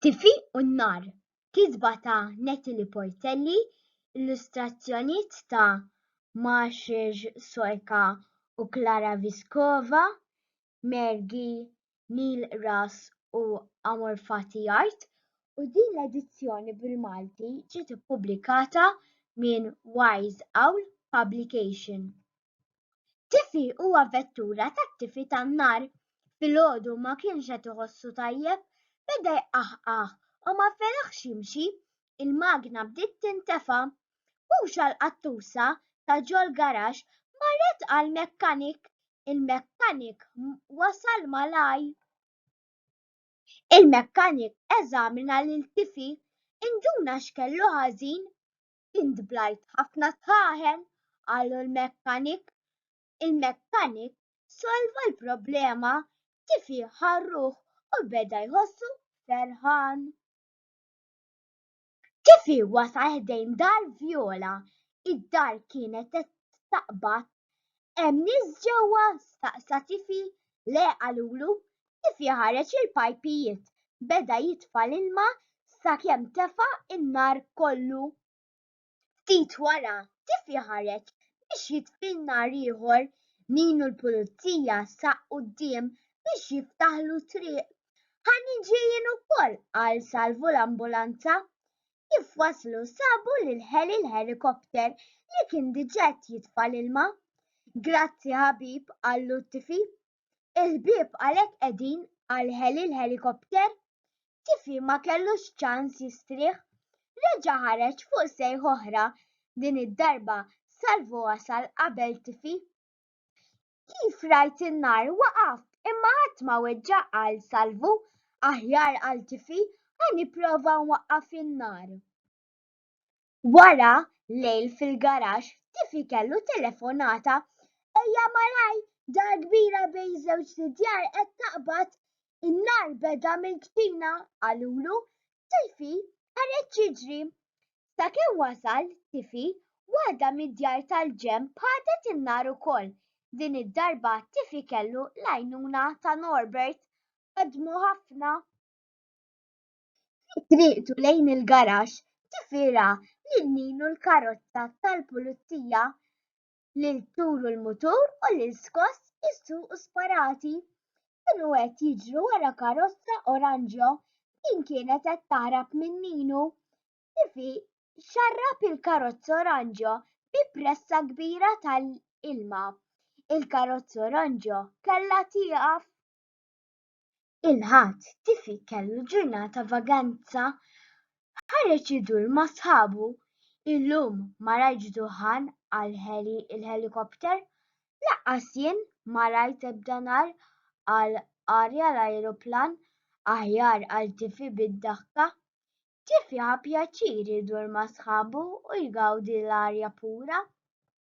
Tifi u n-Nar, kitba ta' Natalie Portelli, illustrazzjonijiet ta' Maciej Sorka u Klara Vyskova, Mergi, Neil Ras u Amorfati Art, u din l-edizzjoni bil-Malti ġiet ippubblikata minn Wise Owl Publication. Tifi huwa vettura tat-tifi tan-nar. Filgħodu ma kienx qed iħossu tajjeb, beda jqaħqaħ u ma fetaħx jimxi. Il-magna bdiet tintefa'. Hux għall-qattusa ta' ġol-garaxx marret għall-mekkanik. Il-mekkanik wasal malaj. Il-mekkanik eżamina lil Tifi. Induna x'kellu ħażin. Int blajt ħafna taħen, qalu l-mekkanik. Il-mekkanik solva l-problema, tifi ħarruh u beda jħossu ferħan. Tifi wasal ħdejn dar Vjola, id-dar kienet qed taqbad. Hemm nies ġewwa? staqsa Tifi. Le qalulu, kif jaħareġ il-pajpijiet, beda jitfa' l-ilma sakemm tefa' n-nar kollu. Ftit wara, kif jaħareġ biex jitfi n-nar ieħor, min hu l-pulizija saq quddiem biex jiftaħlu triq. Ħa niġi jien ukoll, qal Salvu l-ambulanza. Kif waslu sabu lil Heli l-ħelikopter li kien diġà qed jitfa' l-ilma. Grazzi ħabib, qallu t-tifi. Il-bieb għalhekk qegħdin għal ħeli l-ħelikopter? Tifi ma kellux ċans jistrieħ. Reġa' ħareġ fuq sejħa oħra, din id-darba Salvo wasal qabel Tifi. Kif rajt in-nar waqaft imma ħadd ma weġġa' qal Salvo. Aħjar qal Tifi ħa nipprova nwaqqaf in-nar. Wara lejl fil-garaxx tifli kellu telefonata, Ejja malajr, dar kbira bejn żewġt idjar qed taqbad, in-nar beda mill-kċina, qalulu. Tifi ħareġ jiġri. Sakemm wasal Tifi, waħda mid-djar tal-ġenb ħadet in-nar ukoll. Din id-darba Tifi kellu l-għajnuna ta' Norbert. Ħadmu ħafna. Fi triqtu lejn il-garaxx tifira lil Ninu l-karozza tal-Pulizija, lil Turu l-mutur u lil Skoss isuqu sparati. Kienu qed jiġru wara karozza oranġjo. Din kienet qed taħrab minn Ninu. Tifi xarrab il-karozza oranġjo bi pressa kbira ta' ilma. Il-karozza oranġjo kellha tieqaf. Il-Ħadd, Tifi kellu ġurnata vaganza, ħareġ idur ma' sħabu. Illum ma rajtx duħħan qal Heli il-ħelikopter. Lanqas jien ma rajt ebda nar qal Arja l-ajruplan. Aħjar qal Tifi bid-daħka. Tifi ħa pjaċir idur ma' sħabu u jgawdi l-arja pura.